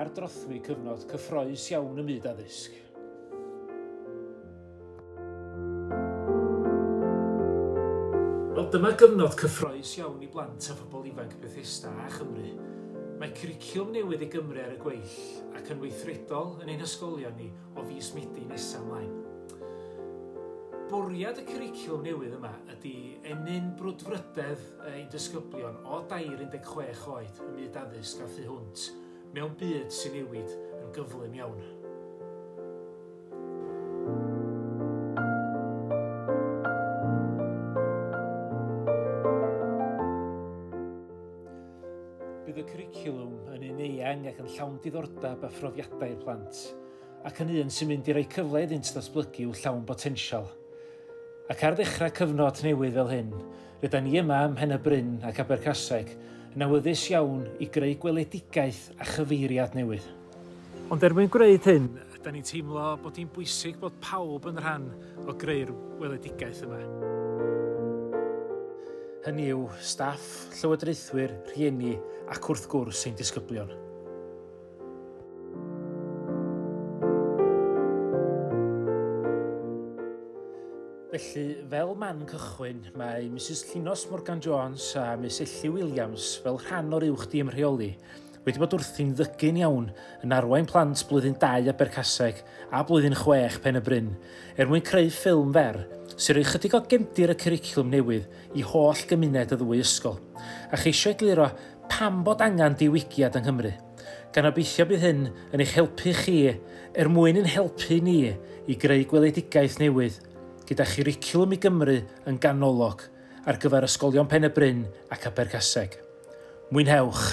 Ar drothwy cyfnod cyffroes iawn ym myd addysg. Wel, dyma gyfnod cyffroes iawn i blant a phobl ifanc Bethesda a Chymru. Mae cwricwlwm newydd i Gymru ar y gweill ac yn weithredol yn ein hysgolion ni o fis Medi nesaf ymlaen. Bwriad y cwricwlwm newydd yma ydy ennyn brwdfrydedd ein disgyblion o dair 16 oed ym myd addysg a thu hwnt, mewn byd sy'n newid yn gyflym iawn. Bydd y cwricwlwm yn un eang ac yn llawn diddordeb a phrofiadau i'r plant, ac yn un sy'n mynd i roi cyfle iddynt ddatblygu i'w llawn botensial. Ac ar ddechrau cyfnod newydd fel hyn, Rydan ni yma ym Mhen-y-bryn ac Abercaseg yn awyddus iawn i greu gweledigaeth a chyfeiriad newydd. Ond er mwyn gwneud hyn, rydan ni'n teimlo bod hi'n bwysig bod pawb yn rhan o greu'r weledigaeth yma. Hynny yw, staff, llywodraethwyr, rhieni ac wrth gwrs ein disgyblion. Felly, fel man cychwyn, mae Mrs Llinos Morgan Jones a Miss Ellie Williams, fel rhan o'r uwch dîm rheoli, wedi bod wrthi'n ddygyn iawn yn arwain plant blwyddyn 2 a Bercaseg a blwyddyn 6 Pen y Bryn, er mwyn creu ffilm fer, sy'n rhoi chydig o gemdir y cwricwlwm newydd i holl gymuned y ddwy ysgol, a cheisio egluro pam bod angen diwygiad yng Nghymru, gan obeithio bydd hyn yn eich helpu chi er mwyn ein helpu ni i greu gweledigaeth newydd, gyda churicwlwm i Gymru yn ganolog ar gyfer ysgolion Pen-y-bryn ac Abergaseg. Mwynhewch!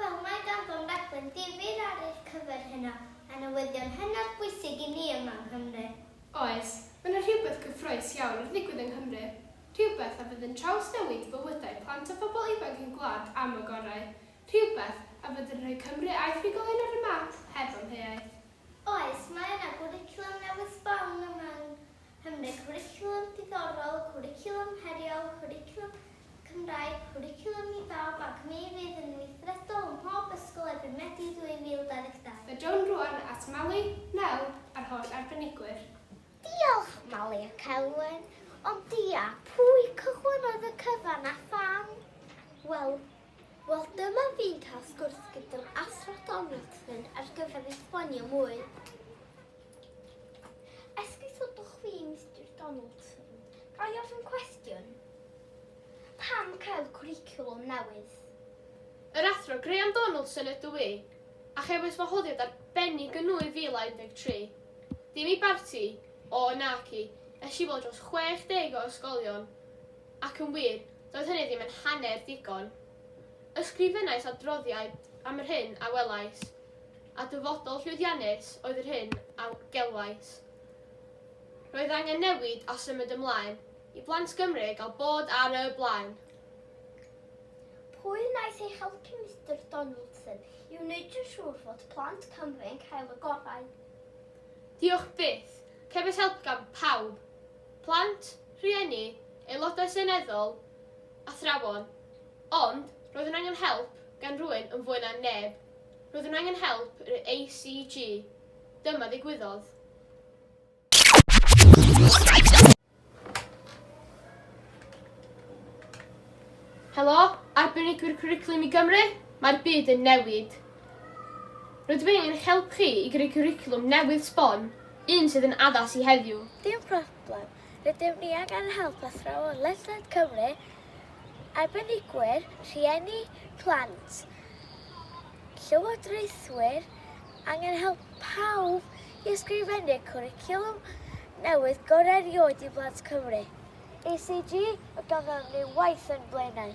Wel, mae ganddom raglen ddifyr ar eich cyfer heno, a newyddion hynod bwysig i ni yma yng Nghymru. Oes, mae yna rhywbeth cyffrous iawn yn digwydd yng Nghymru, rhywbeth a fydd yn trawsnewid bywydau plant a phobl ifanc ein gwlad am y gorau, rhywbeth a fydd yn rhoi Cymru a'i thrigolion ar y map heb amheuaeth. Oes, mae yna gwricwlwm newydd sbon yma yng Cymru, cwricwlwm diddorol, cwricwlwm heriol, cwricwlwm Cymraeg, cwricwlwm i bawb ac mi fydd yn weithredol ym mhob ysgol erbyn Medi 2022. A ddown rŵan at Mali, Nel a'r holl arbenigwyr. Diolch Mali ac Elwen, ond dia pwy cychwynnodd y cyfan a pham? Wel, wel dyma fi'n cael sgwrs gyda'r Athro Donaldson ar gyfer esbonio mwy. Esgus ydwch chi, Mister Donaldson. Ga i ofyn cwestiwn? Pam cael cwricwlwm newydd? Yr Athro Graham Donaldson ydw i, a chefais wahoddiad arbennig yn 2013. Dim i barti, o naci, es i weld dros 60 o ysgolion, ac yn wir, doedd hynny ddim yn hanner digon. Ysgrifennais adroddiad am yr hyn a welais. a dyfodol llwyddiannus oedd yr hyn a gelwais 'Roedd angen newid a symud ymlaen i blant Gymru gael bod ar y blaen'. Pwy wnaeth eich helpu Mister Donaldson i wneud yn siŵr fod plant Cymru yn cael y gorau? Diolch byth, cefais help gan pawb, plant, rhieni, aelodau seneddol, athrawon, ond roeddwn angen help gan rywun yn fwy na neb. Roeddwn angen help yr ACG. Dyma ddigwyddodd. Helo, arbenigwyr cwricwlwm i Gymru, mae'r byd yn newid. Rydw i'n eich help chi i greu cwricwlwm newydd sbon, un sydd yn addas i heddiw. Dim problem. Rydym ni angen help athrawon ledled Cymru arbenigwyr, rhieni, plant, llywodraethwyr, angen help pawb i ysgrifennu'r cwricwlwm newydd gorau erioed i blant Cymru. ECG, mae ganddyn ni waith yn blaenau.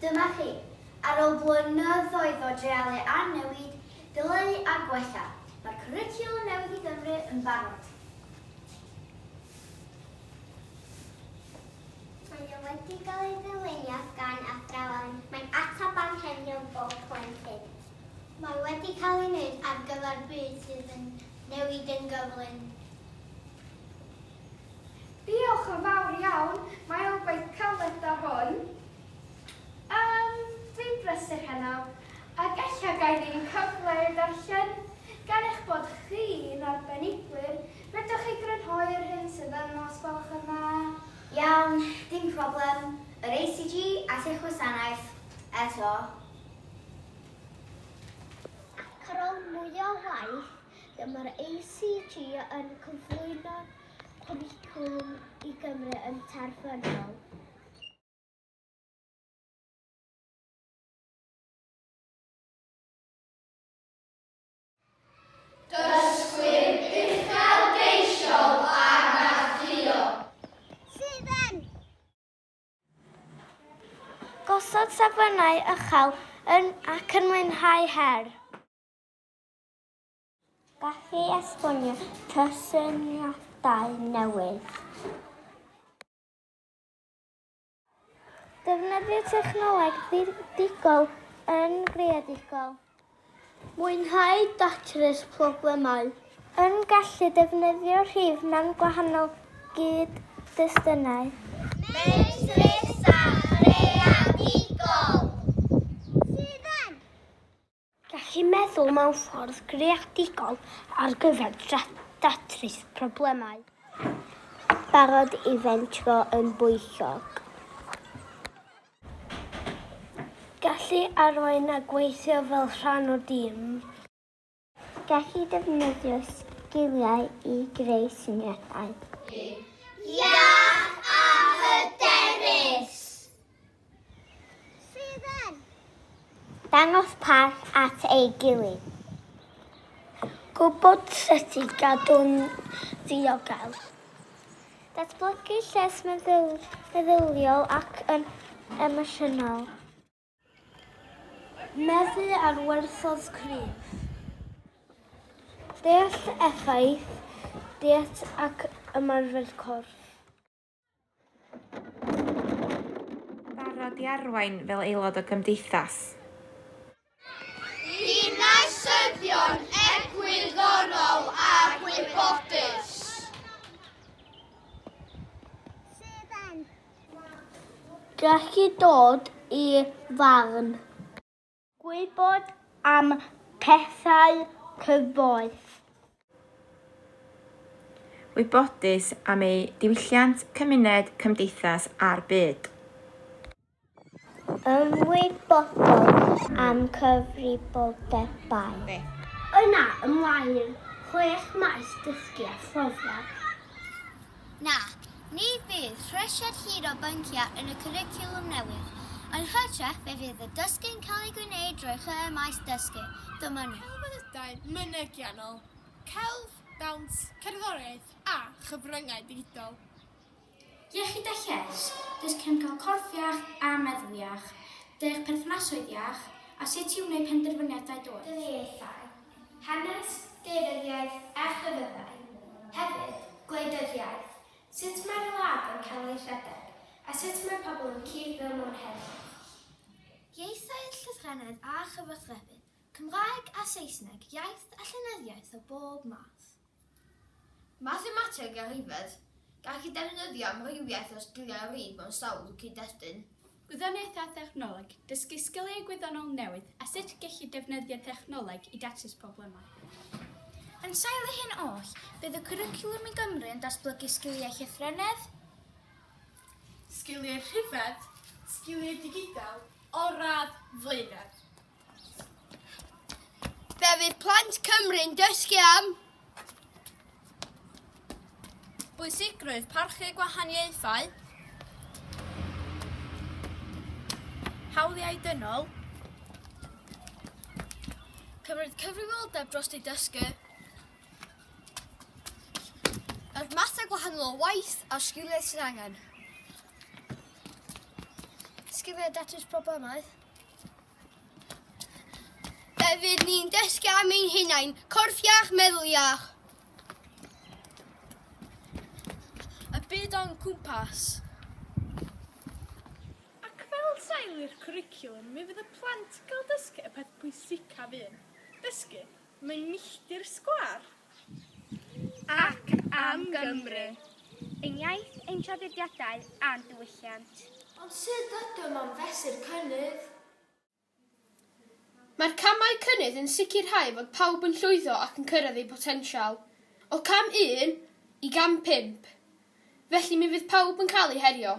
Dyma chi. Ar ôl blynyddoedd o dreialu a newid, dileu a gwella, mae'r cwricwlwm newydd i Gymru yn barod. Mae o wedi cael ei ddylunio gan athrawon. Mae'n ateb anghenion bob plentyn. Mae wedi cael ei wneud ar gyfer byd sydd yn newid yn gyflym. Diolch yn fawr iawn, mae o'n gwaith caled da hwn. Yym, dwi'n brysur heno, ac ella gai ddim cyfle i'w ddarllen. Gan eich bod chi'n arbenigwyr, fedrwch chi grynhoi yr hyn sydd yno os gwelwch yn dda? Iawn, dim problem. Yr ACG at eich gwasanaeth, eto. Ac ar ôl mwy o waith, dyma'r ACG yn cyflwyno'r cwricwlwm i Gymru yn terfynol. Gosod safonau uchel yn ac yn mwynhau her. Gallu esbonio cysyniadau newydd. Defnyddio technoleg ddigol yn greadigol. Mwynhau datrys problemau. Yn gallu defnyddio rhif mewn gwahanol gyd-destunau. Medrus a chreadigol. Sydd yn. Gallu meddwl mewn ffordd greadigol ar gyfer datrys problemau. Barod i fentro yn bwyllog. Gallu arwain a gweithio fel rhan o dîm. Gallu defnyddio sgiliau i greu syniadau. Iach a hyderus. Sydd yn. Dangos parch at ei gilydd. Gwybod sut i gadw'n ddiogel. Datblygu lles meddyliol ac yn emosiynol. Meddu ar werthoedd cryf. Deall effaith diet ac ymarfer corff. Barod i arwain fel aelod o gymdeithas. Dinasyddion egwyddorol a gwybodus. Gallu dod i farn. Gwybod am pethau cyfoes. Wybodus am eu diwylliant, cymuned, cymdeithas a'r byd. Ymwybodol am cyfrifoldebau. Yna ymlaen i'r chwech maes dysgu a phrofiad. Na, ni fydd rhesiad hir o bynciau yn y cwricwlwm newydd, yn hytrach fe fydd y dysgu'n cael ei gwneud drwy'r chwe maes dysgu, Dymunir. Celfyddydau mynegiannol, celf, dawns, cerddoriaeth a chyfryngau digidol. Iechyd a Lles, dysg cefngar corff iach a meddwl iach, dysg perthnasoedd iach a sut i wneud penderfyniadau doeth. Dynamiaethau, hanes, deiryddiaeth a chlefydau. Hefyd, gwleidyddiaeth, sut mae'r wlad yn cael ei rhedeg a sut mae pobl yn cyd-fyw mewn heddwch. Ieithoedd, llythrennedd a chyfathrebu, Cymraeg a Saesneg, iaith a llenyddiaeth o bob math. Mathemateg a Rhifedd, gall y defnyddio amrywiaeth o sgiliau a rif mewn sawl cyd-destun. Gwyddoniaeth a Thechnoleg, dysgu sgiliau gwyddonol newydd a sut gellir defnyddio technoleg i datrys problemau. Yn sail y hyn oll, bydd y cwricwlwm i Gymru yn datblygu sgiliau llythrennedd, Sgiliau Rhifedd, sgiliau digidol o'r radd flaenaf. Fe fydd plant Cymru'n dysgu am bwysigrwydd parchu gwahaniaethau, hawliau dynol, cymryd cyfrifoldeb dros ei dysgu, yr mathau gwahanol o waith a'r sgiliau sydd angen. Sgiliau datrys problemau. Fe fydd ni'n dysgu am ein hunain, corff iach, meddwl iach. Y byd o'n cwmpas. Ac fel sail i'r cwricwlwm, mi fydd y plant yn cael dysgu y peth pwysicaf un, dysgu Mae milltir sgwâr. Ac am Gymru. Ein iaith, ein traddodiadau a'n diwylliant. Ond sut ydym am fesur cynnydd? Mae'r camau cynnydd yn sicrhau fod pawb yn llwyddo ac yn cyrraedd eu potensial, o Cam Un i Gam Pump, felly mi fydd pawb yn cael eu herio.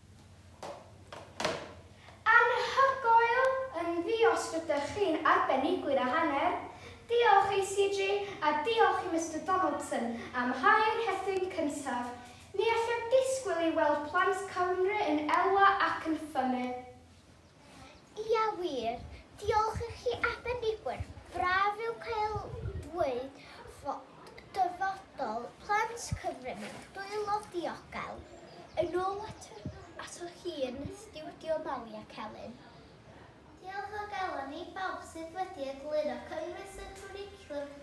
Anhygoel yn ddios rydych chi'n arbenigwyr a hanner. Diolch i CG a diolch i Mister Donaldson am hau'r rhethyn cyntaf. Ni allaf disgwyl i weld plant Cymru yn elwa ac yn ffynnu. Ia wir, diolch i chi arbenigwyr, braf yw cael dweud fod dyfodol plant Cyfryn yn dwylo diogel. Yn ôl atoch chi yn Stiwdio Malia Celyn. Diolch o galon i bawb sydd wedi egluro cynnwys y cwricwlwm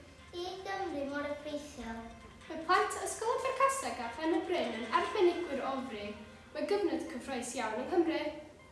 i Gymru mor effeithiol. Mae plant Ysgol Abercaseg a Phen-y-bryn yn arbenigwyr o fri, mae gyfnod cyffrous iawn yng Nghymru.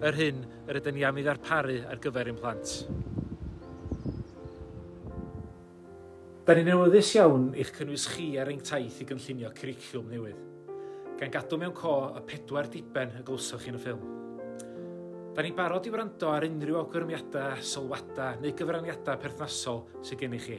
yr hyn yr ydyn ni am ei ddarparu ar gyfer ein plant. Da ni'n awyddus iawn i'ch cynnwys chi ar ein taith i gynllunio cwricwlwm newydd, gan gadw mewn co y pedwar diben y glywsoch chi yn y ffilm. Da ni'n barod i wrando ar unrhyw awgrymiadau, sylwadau neu gyfraniadau perthnasol sydd gennych chi.